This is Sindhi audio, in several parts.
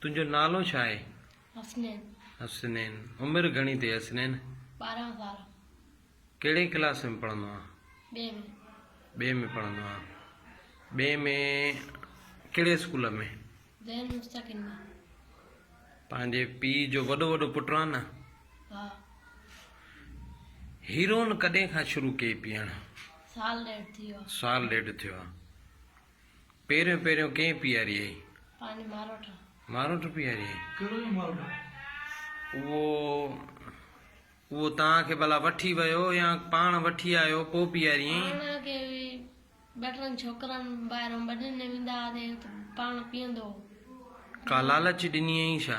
تنهنجو نالو ڇا آهي؟ حسنين. حسنين، عمر گهڻي اٿئي حسنين؟ ٻارهن سال. ڪهڙي ڪلاس ۾ پڙهندو آهين؟ ٻئي ۾. ٻئي ۾ پڙهندو آهين. ٻئي ۾ ڪهڙي اسڪول ۾؟ زين مستقيم ۾. پنهنجي پيء جو وڏو وڏو پٽ آهين نه؟ ها. هيروئن ڪڏهن کان شروع ڪئي پيئڻ؟ سال ڏيڍ ٿي ويو آهي. سال ڏيڍ ٿيو آهي. پهريون پهريون ڪنهن پياريئي. پنهنجي ماروٽ. ماروٽ پياريئي. ڪهڙو جو ماروٽ؟ اهو اهو توهان کي ڀلا وٺي ويو يا پاڻ وٺي آيو پوء پياريئي. پاڻ اڳي به ٻه ٽن ڇوڪرن ٻاهران ٻڏن ڏي ويندا هئاسين ته پاڻ پيئندو هو. ڪا لالچ ڏنيئي ڇا؟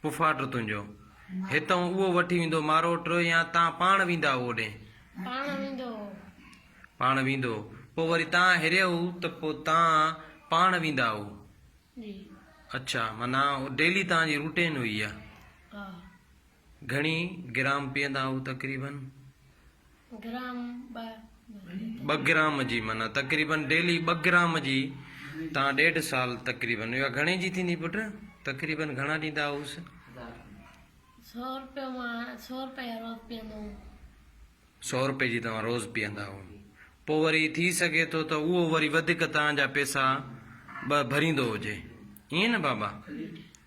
پڦاٽ تنهنجو هتئون اهو وٺي ويندو ماروٽ يا تان پاڻ ويندا هئو اوڏي؟ پاڻ ويندو هو. پاڻ ويندو هو. پوء وري تان هريئو ته پوء تان پاڻ ويندا هئو؟ جي. اڇا. معنيٰ اهو ڊيلي توهان جي روٽين هئي اها؟ ها. گهڻي گرام پيئندا هئو تقريبن؟ گرام ٻه. ٻه گرام جي معنيٰ تقريبن ڊيلي ٻه گرام جي تان ڏيڍ سال تقريبن اها گهڻي جي ٿيندي پٽ تقريبن گهڻا ڏيندا هئوس. سو روپيو مان سو روپيا روز پيئندو هوم. سو روپي جي توهان روز پيئندا هئو پوء وري ٿي سگهي ٿو ته اهو وري وڌيڪ توهان جا پيسا ٻه ڀريندو هجي ائين نه بابا.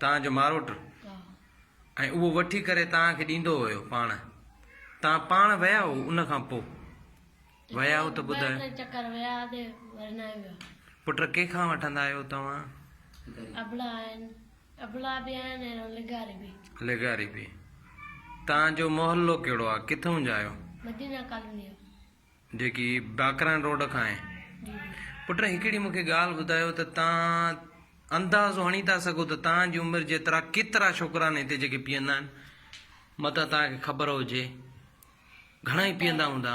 توهان جو ماروٽ ۽ اهو وٺي ڪري توهان کي ڏيندو هيو پاڻ توهان پاڻ ويا هئو ان کان پوء ويا هئو ته ٻڌايو پٽ ڪنهن کان وٺندا آهيو توهان لغاري به توهان جو محلو ڪهڙو آهي ڪٿون جا آهيو جيڪي باقران روڊ کان آهي. پٽ هڪڙي مونکي ڳالهه ٻڌايو ته توهان اندازو هڻي ٿا سگهو ته توهان جي عمر جيترا ڪيترا ڇوڪرا آهن هتي جيڪي پيئندا آهن؟ متان توهان کي خبر هجي. گهڻائي پيئندا هوندا.